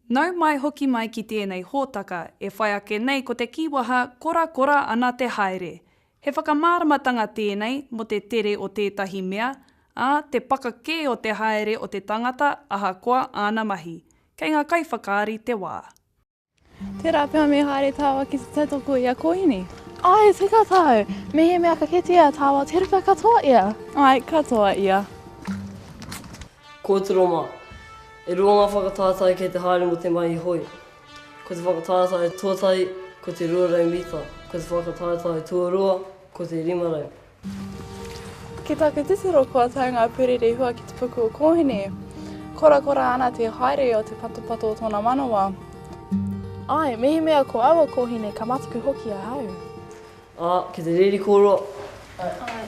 Nau mai hoki mai ki tēnei hōtaka e whai ake nei ko te kīwaha korakora ana te haere. He whakamāramatanga tēnei mō te tere o tētahi mea, ā, te paka kē o te haere o te tangata ahakoa āna mahi. Kei ngā kaiwhakaari te wā. Tērā pea me haere tāua ki te tautoko i a Kōhine? Ai, tika tāu. Mehemea ka kite a tāua te ruka katoa ia. Ai, katoa ia. Kōtiro mā. E rua ngā whakatātai kei te haere mō te mahi hoi. Ko te whakatātai tuatahi, ko te 200 mita, ko te whakatātai tuarua, ko te 500. Ki taku titiro kua tau ngā puri rehua ki te puku o Kōhine. Korakora ana te haere o te patopato o tōna manawa. Ai, mehemea ko aua kōhine ka mataku hoki ahau. Ā, ki te reri kōrua. Ā.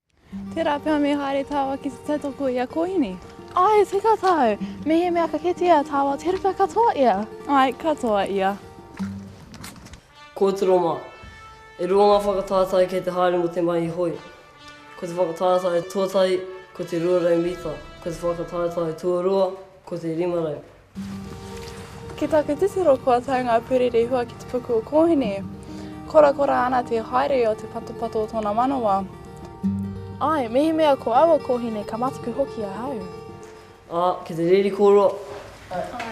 Tērā pea me haere tāua ki te tautoko i a Kōhine? Āe, tika tāu. Mehemea ka kitea tāua te ruka katoa ia. Āe, katoa ia. Kōtiro mā. E rua ngā whakatātai kei te haere mō te mahi hoi. Ko te whakatātai tuatahi, ko te 200 mita, ko te whakatātai tuarua, ko te 500. Ki taku titiro kua tau ngā puri rehua ki te puku o Kōhine. Korakora ana te haere o te patopato o tōna manawa. Ai, mehemea ko aua kōhine ka mataku hoki ahau. Ā, ki te reri kōrua. Ā.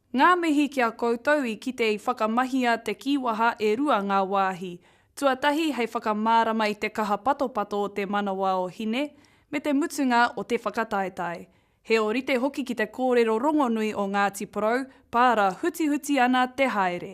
Ngā mihi ki a koutou i kite i whakamahia te kīwaha e rua ngā wāhi, tuatahi hei whakamārama i te kaha patopato o te manawa o Hine, me te mutunga o te whakataetae. He orite hoki ki te kōrero rongonui o Ngāti Porou, pāra hutihuti ana te haere.